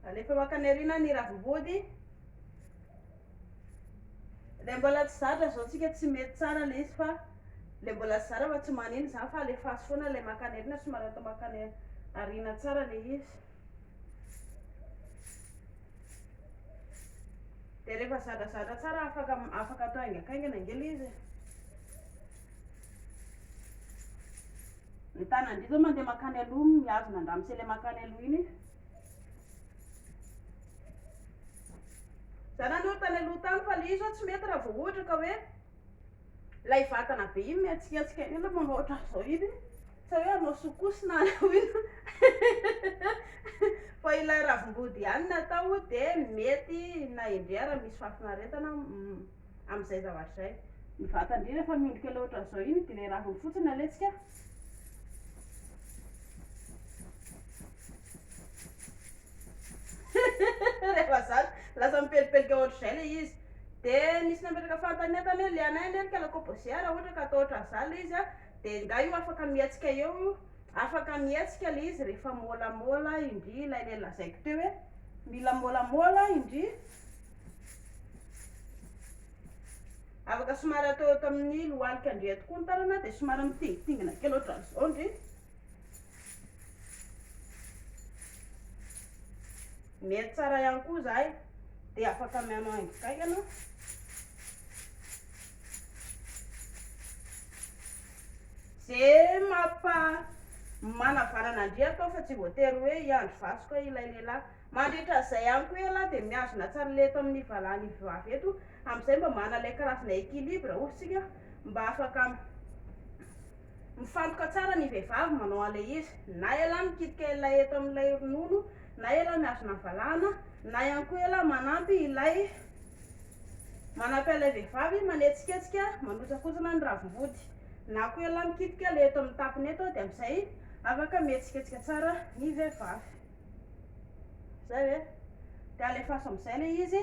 Alefa eo akany aoriana ny ravim-body. Ilay mbola tsy zatra izao tsika tsy mety tsara ilay izy fa ilay mbola tsy zara fa tsy maneno izany fa alefa azy foana ilay makany aoriana somary atao makany aoriana tsara ilay izy. Dia rehefa zadrazadra tsara afaka afaka atao haingankaingana ange ilay izy e. Ny tanan'indry izao mandeha mankany aloha mihazona an-dramose ilay mankany aloha iny e. Izaho nandoro tany aloha tany fa ilay izy izao tsy mety raha vao ohatra ka hoe ilay vatana be iny mihetsiketsika iny ilay manao ohatran'izao iny. Tsy hoe hanao soukous na hanao inona fa ilay ravim-body ihany no atao dia mety na endrey ary misy fahafinaretana amin'izay zavatra izay. Ny vatan-dry rehefa miondrika ilay ohatran'izao iny dia ilay raviny fotsiny no alentsika. Rehefa zatra, lasa mipelipelika ohatr'izay ilay izy. Dia nisy nametraka fanontaniana tany hoe, le anay anie ry kalakobosia raha ohatra ka atao ohatran'izany ilay izy an, Dia ingahy io afaka mihetsika eo io, afaka mihetsika ilay izy rehefa môlamôla indry ilay le lazaiko teo hoe mila môlamôla indry, afaka somary atao eto amin'ny lohalika indry eto koa ny tanana dia somary mitingitingina kely ohatran'izao indry, mety tsara ihany koa izahay dia afaka mihaino haingo kaiky ianao. Ze mampa manavanana andriako aho fa tsy voatery hoe hiandry vasoka ilay lehilahy. Mandritra an'izay ihany koa ialahy dia mihazona tsara ilay eto amin'ny valahany avy eto, amin'izay mba manana ilay karazana équilibre hoy isika, mba afaka mifantoka tsara ny vehivavy manao an'ilay izy, na ialahy mikitika ilay eto amin'ilay ronono, na ialahy mihazona ny valahana, na ihany koa ialahy manampy ilay. Manapy an'ilay vehivavy manetsiketsika manontsakonsona ny ravim-body. Na koa ialahy mikitika ilay eto amin'ny tapony eto dia amin'izay afaka mihetsiketsika tsara ny vehivavy. Izay ve? Dia alefaso amin'izay ilay izy.